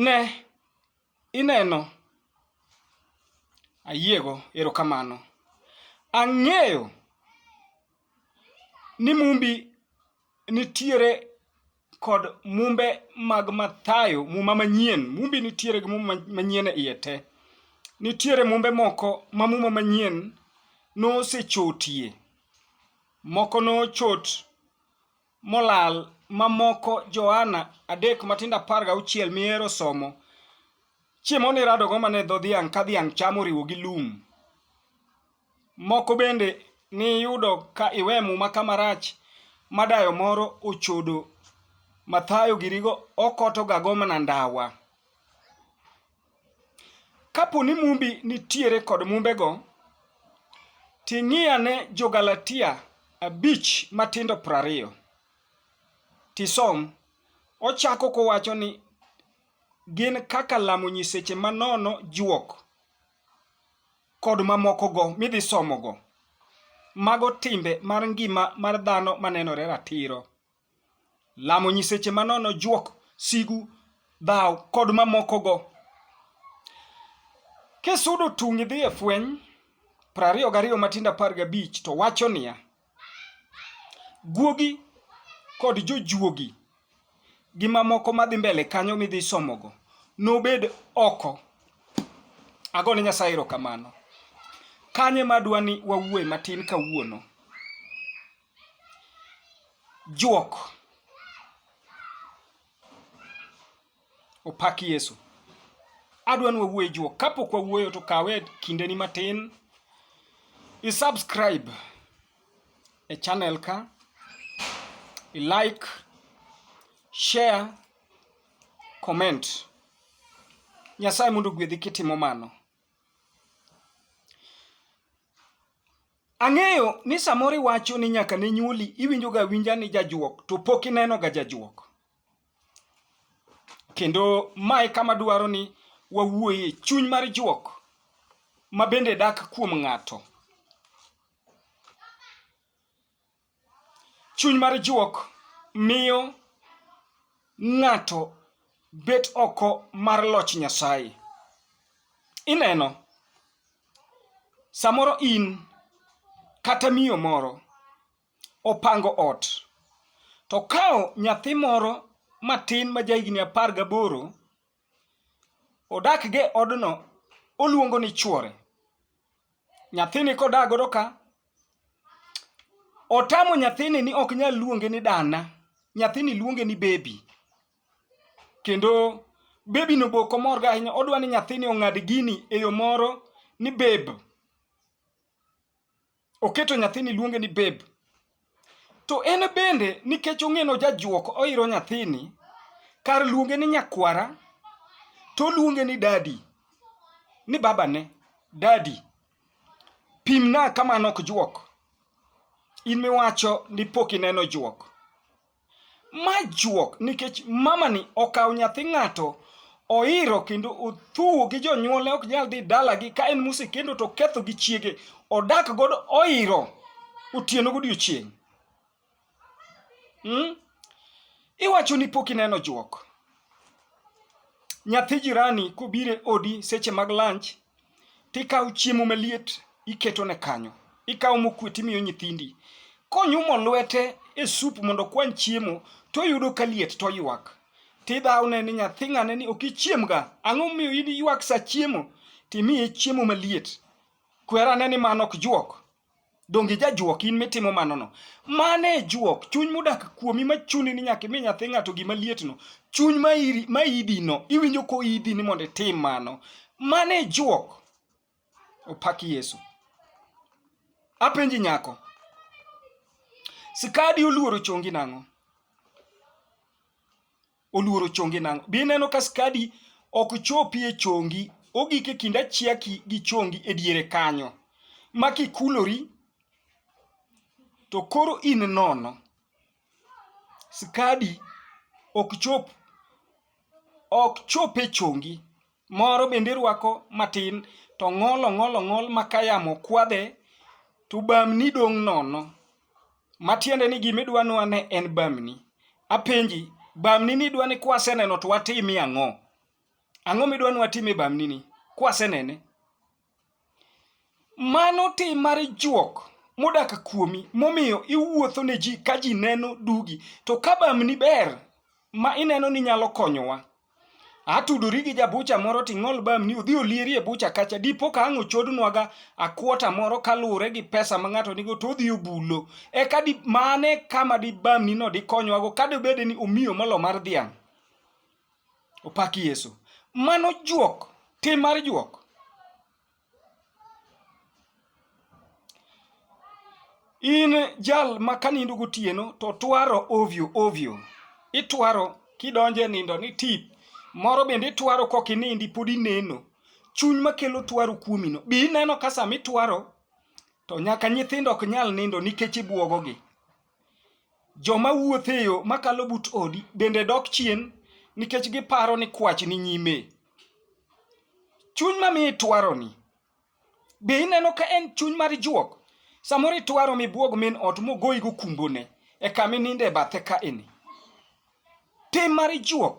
Ne, ineno. Ayiego, erokamano. Ang'eyo ni mumbi nitiere kod mumbe mag Mathayo, muma manyien. Mumbi nitiere gi muma manyien e iye te. Nitiere mumbe moko ma muma manyien nosechotie. Moko nochot molal mamoko Johana 3 matindo 16 mihero somo, chiemo niradogo mana e dho dhiang' ka dhiang' chamo oriwo gi lum. Moko bende niyudo ka iwe muma kama rach ma dayo moro ochodo mathayo girigo okotogago mana ndawa. Kapo ni Mumbi nitiere kod Mumbego, ting'iane Jo-Galatia abich matindo prariyo, tisom. Ochako kowacho ni gin kaka lamo nyiseche manono juok kod mamokogo midhi somogo. Mago timbe mar ngima mar dhano manenore ratiro. Lamo nyiseche manono, juok, sigu, dhaw, kod mamokogo. Kisudo tung' idhi e fweny prariyo gariyo matindo apar gabich to wacho niya, guogi kod jojuogi gi mamoko madhi mbele kanyo midhi somogo nobed oko. Ago ne Nyasaye erokamano. Kanye madwa ni wawuoye matin kawuono? Juok. Opak Yesu. Adwa ni wawuoye juok. Kapok wawuoyo to kawe kindeni matin. I subscribe e channel ka. I like, share, comment. Nyasaye mondo gwedhi kitimo mano. Ang'eyo ni samoro iwacho ni nyaka ne nyuoli iwinjoga awinja ni jajuok to pok inenoga jajuok. Kendo ma e kama dwaro ni wawuoye chuny mar juok ma bende dak kuom ng'ato. Chuny mar juok miyo ng'ato bet oko mar loch Nyasaye. Ineno, samoro in kata miyo moro opango ot, to okawo nyathi moro matin ma jahigni apar gaboro, Odak gi e odno, oluongo ni chuore. Nyathini kodak godo ka, otamo nyathini ni ok nyal luonge ni dana, nyathini luonge ni baby. Kendo baby no be ok omor go ahinya, odwa ni nyathini ong'ad gini e yo moro ni babe. oketo nyathini luonge ni babe to en bende nikech ong'eno jajuok oiro nyathini kar luonge ni nyakwara to oluonge ni dadi ni babane dadi pimna kamano ok juok in miwacho ni pok ineno juok Ma juok nikech mamani okawo nyathi ng'ato oiro kendo othuwo gi jonyuolne ok nyal dhi dalagi ka en mosekendo to ketho gi chiege odak godo oiro otieno godiochieng' hmm? iwacho ni pok ineno juok nyathi jirani kobire odi seche mag lunch tikawo chiemo maliet iketo ne kanyo, ikawo mokwe timiyo nyithindi. Konyumo lwete e sup mondo okwan chiemo, toyudo ka liet toywak. Tidhawne ni nyathi ng'ane ni ok ichiemga, ang'o momiyo in iywak sa chiemo? Timiye chiemo maliet. Kwerane ni mano ok juok. Donge ijajuok in mitimo manono? Mano e juok, chuny modak kuomi ma chuni ni nyaka imi nyathi ng'ato gima lietno, chuny ma iri- ma idino, iwinjo ko idi ni mondo itim mano. Mano e juok. Opak Yesu. Apenji nyako, skadi oluoro chongi nang'o? oluoro chonge nang'o? Be ineno ka skadi ok chopi e chongi, ogik e kind achiaki gi chongi e diere kanyo, ma kikulori to koro in nono. Skadi ok chop ok chop e chongi. moro bende irwako matin to ng'ol ong'ol ong'ol ma ka yamo kwadhe to bamni dong' nono matiende ni gima idwa nwa ne en bamni apenji bamni ni idwa ni kwaseneno to watimi ang'o ang'o midwa ni watime bamni ni kwasenene Mano tim mar juok modak kuomi momiyo iwuotho ne ji ka ji neno dugi. To ka bamni ber ma ineno ni nyalo konyowa, atudori gi jabucha moro to ing'ol bamni odhi olieri e bucha kacha. Dipo ka ang' ochodnwaga a quarter moro kaluwore gi pesa ma ng'ato nigo to odhi obulo. Eka di mano e kama di bamnino dikonywago ka dibed ni omiyo molo mar dhiang'. Opak Yesu. Mano juok, tim mar juok. In jal ma kanindo gotieno to twaro ovyo ovyo. Itwaro kidonje nindo ni tip. Moro bende itwaro kok inindi pod ineno. Chuny makelo twaro kuomino. Bi ineno ka sama itwaro to nyaka nyithindo ok nyal nindo nikech ibuogogi. Joma wuotho e yo makalo but odi bende dok chien nikech giparo ni kwach ni nyime. Chuny ma miyo itwaroni, be ineno ka en chuny mar juok? Samoro itwaro mibwog min ot mogoyigo kumbone e kama ininde e bathe kaeni. Tim mar juok.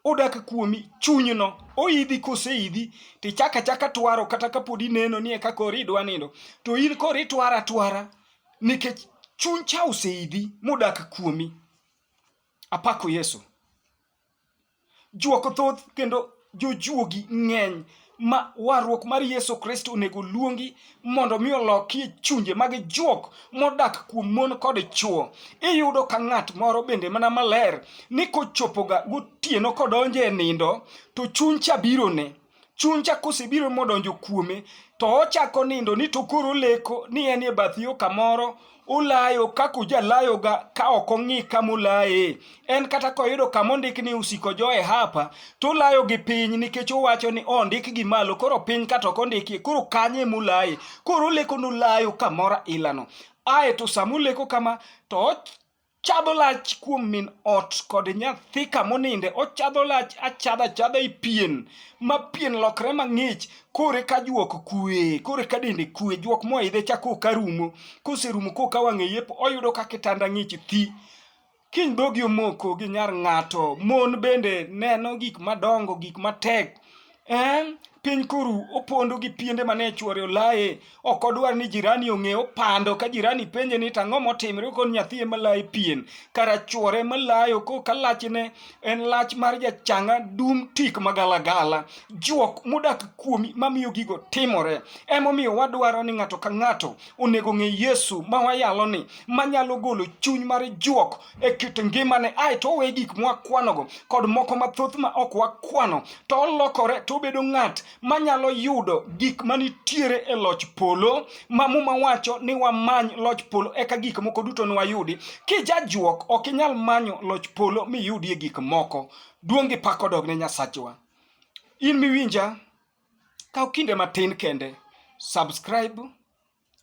odak kuomi chunyno oidhi koseidhi to ichako achaka twaro kata kapod ineno ni eka koro idwa nindo to in koro itwaro atwara nikech chuny cha oseidhi modak kuomi apako yesu juok thoth kendo jojuogi ng'eny ma warruok mar Yesu Kristo onego luongi mondo mi olokie chunje mag juok modak kuom mon kod chwo. Iyudo ka ng'at moro bende mana maler ni kochopoga gotieno kodonjo e nindo to chuny cha birone. Chuny cha kosebiro modonjo kuome to ochako nindo ni to koro leko ni en e bath yo kamoro ulayo kaka ujalayoga ka ok ong'i kama ulaye. En kata koyudo kama ondik ni usiko jo e hapa, to ulayo gi piny nikech uwacho ni oh, ondik gi malo, koro piny kata ok ondiki, koro kanye mulaye. Koro uleko nulayo kamora ilano. Ae to sama uleko kama, to Chadho lach kuom min ot kod nyathi kamoninde, ochadho lach achadha achadha e pien, ma pien lokre mang'ich, kore ka juok kwe, kore ka dende kwe, juok moidhe cha koka rumo, koserumo koka wang'e yepo, oyudo ka kitanda ng'ich thi. Kiny dhogi omoko gi nyar ng'ato, mon bende neno gik madongo, gik matek, Eh, piny kuru opondo gi piende mane chwore olaye ok odwar ni jirani ong'e opando ka jirani penje ni tang'o motimre kon nyathi ema laye pien kara chwore ema layo ko ka lachne en lach mar jachanga dum tik magalagala juok modak kuomi mamiyo gigo timore emomiyo wadwaro ni ng'ato ka ng'ato onego ng'e yesu ma wayalo ni manyalo golo chuny mar juok e kit ngimane ae to owe gik mwakwanogo kod moko mathoth ma ok wakwano to olokore to obedo ng'at manyalo yudo gik manitiere e loch polo ma muma wacho ni wamany loch polo eka gik moko duto nwayudi kijajuok ok inyal manyo loch polo miyudie gik moko duong' gi pak odog ne nyasachwa in miwinja kaw kinde matin kende subscribe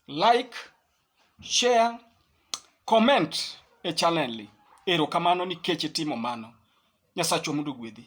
like, share, comment e channel ni. Erokamano nikech itimo mano. Nyasachwa mondo ogwedhi.